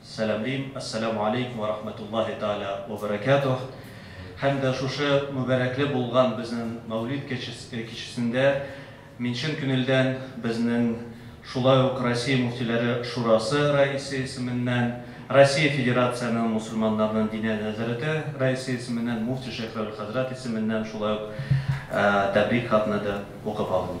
Сәламлим, Ассаләмү алейкум вә рахмәтуллаһи тәгалә вә бәрәкәтүһ, һәм дә шушы мөбарәкле булган безнен Мәүлид кичесендә мин чын күнелдән безнен шулай ук Россия Мөфтиләре Шурасы рәисе исеменнән, Россия Федерациянең Мусулманнарнын Диния нәзарәте рәисе исеменнән, Муфти Шәйх Равил хәзрәт исеменнән шулай ук тәбрик хатны да укып алыйм.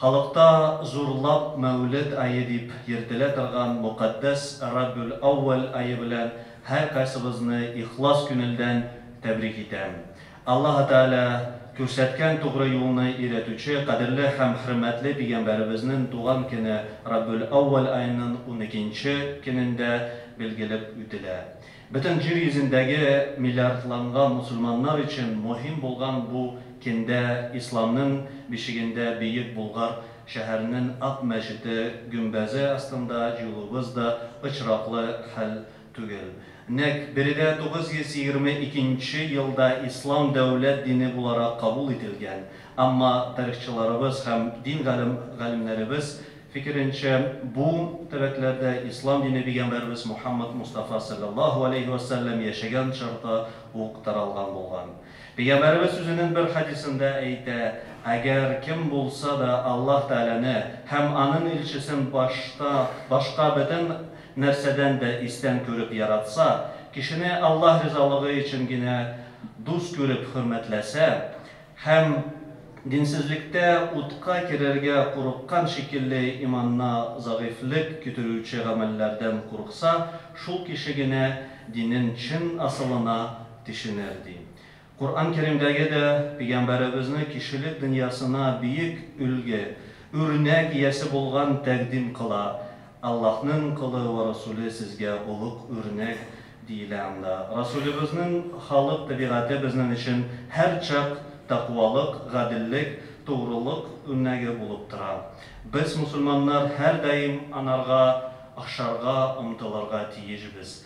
Халыкта зурлап Мәүлед ае дип йөртелә торган мөкатдәс Рабюл-Әүвәл ае белән һәркайсыбызны ихлас күнелдән тәбрик итәм. Аллаһы Тәгалә күрсәткән тугры юлны өйрәтүче кадерле һәм хөрмәтле пигамбәребезнен туган көне Рабюл-Әүвәл аенын уникенче көнендә билгелеп үтелә. Бөтен җир йөзендәге миллиардланган мусульманнар өчен мөһим булган бу кендә исламнын бишегендә Бөек Булгар шәһәренен Ак мәчете гөмбәзе астында җуылуыбыз да очраклы хәл түгел. Нәкъ биредә 922 нче елда ислам дәүләт дине буларак кабул ителгән, әмма тарихчыларыбыз һәм дин галем галимнәребез, фикеренчә, бу төбәкләрдә ислам дине пигамбәребез Мухаммад Мустафа салләллаһу галәйһи вә сәлләм яшәгән чорда ук таралган булган. Пигамбәребез үзенен бер хәдисендә әйтә, Әгәр кем булса да Аллаһ Тәгаләне һәм Аның Илчесен башта башка бөтен нәрсәдән дә истән күреп яратса, кешене Аллаһ ризалыгы өчен генә дус күреп хөрмәтләсә, Һәм динсезлектә утка керергә курыккан шикелле иманына зәгыйфьлек китерүче гамәлләрдән курыкса, шул кеше генә динен чын асылына тешенер, ди. Коръән Кәримдәге дә Пигамбәребезне кешелек дөньясына биек өлге, үрнәк иясе булган тәкъдим кыла. Аллаһның колы вә Расуле сезгә олуг үрнәк, диелә анда. Расулебезнең халык табигате безнең өчен һәрчак тәкъвалык, гаделлек, тугрылык үрнәге булып тора. Без, мусульманнар, һәрдаим анарга охшарга омтылырга тиешбез.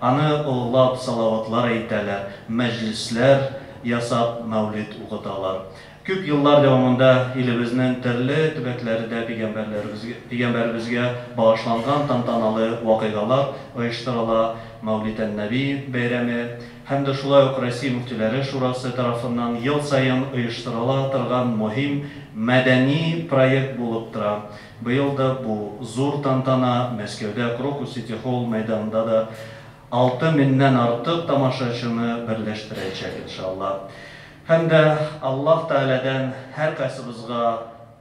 Аны олылап салаватлар әйтәләр, мәҗлесләр ясап, мәүлид укыталар. Күп еллар дәвамында илебезнең төрле төбәкләрдә пигамбәребезгә багышланган тантаналы вакыйгалар оештырыла, Мәүлид-ән-Нәби бәйрәме һәм дә шулай ук Россия мөфтиләре шурасы тарафыннан ел саен оештырыла торган мөһим мәдәни проект булып тора. Быел да бу зур тантана Мәскәүдә Крокус сити-холл мәйданында да алты меннән артык тамашачыны берләштерәчәк, иншалла. Һәм дә Аллаһ Тәгаләдән һәркайсыбызга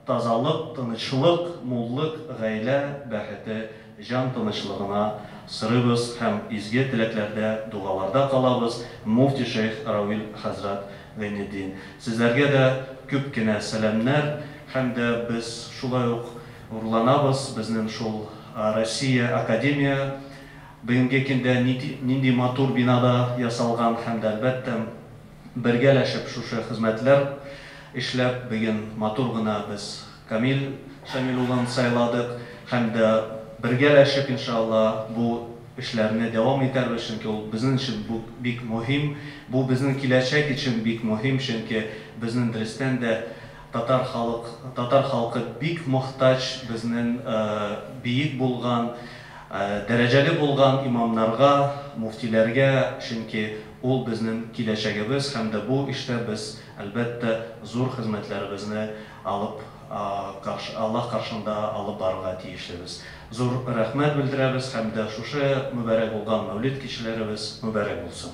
тазалык, тынычлык, муллык, гаилә бәхете Җан тынычлыгына сорыйбыз һәм изге теләкләрдә, дугаларда калабыз, муфти шәех Рауил хәзрәт Гыйнетдин. Сезләргә дә күп кенә сәламнәр һәм дә без шулай ук горурланабыз, безнен шул Россия академия бүгенге кендә нити нинди матур бинада ясалган һәм дә әлбәттә бергәләшеп шушы хезмәтләр эшләп беген матур гына без Камил Шамил улын сайладык һәм дә бергәләшеп иншалла бу эшләрне дәвам итәрбез, чөнки ул безнен өчен бу бик мөһим, бу безнен киләчәк өчен бик мөһим, чөнки безнен дөрестән дә татар халык, татар халкы бик мохтаҗ безнен биек булган, дәрәҗәле булган имамнарга, муфтиләргә, чөнки ул безнен киләчәгебез һәм дә бу эштә без әлбәттә зур хезмәтләребезне алып, Аллаһ каршында алып барырга тиешлебез. Зур рәхмәт белдерәбез һәм дә шушы мөбарәк булган Мәүлид кичәләребез мөбарәк булсын!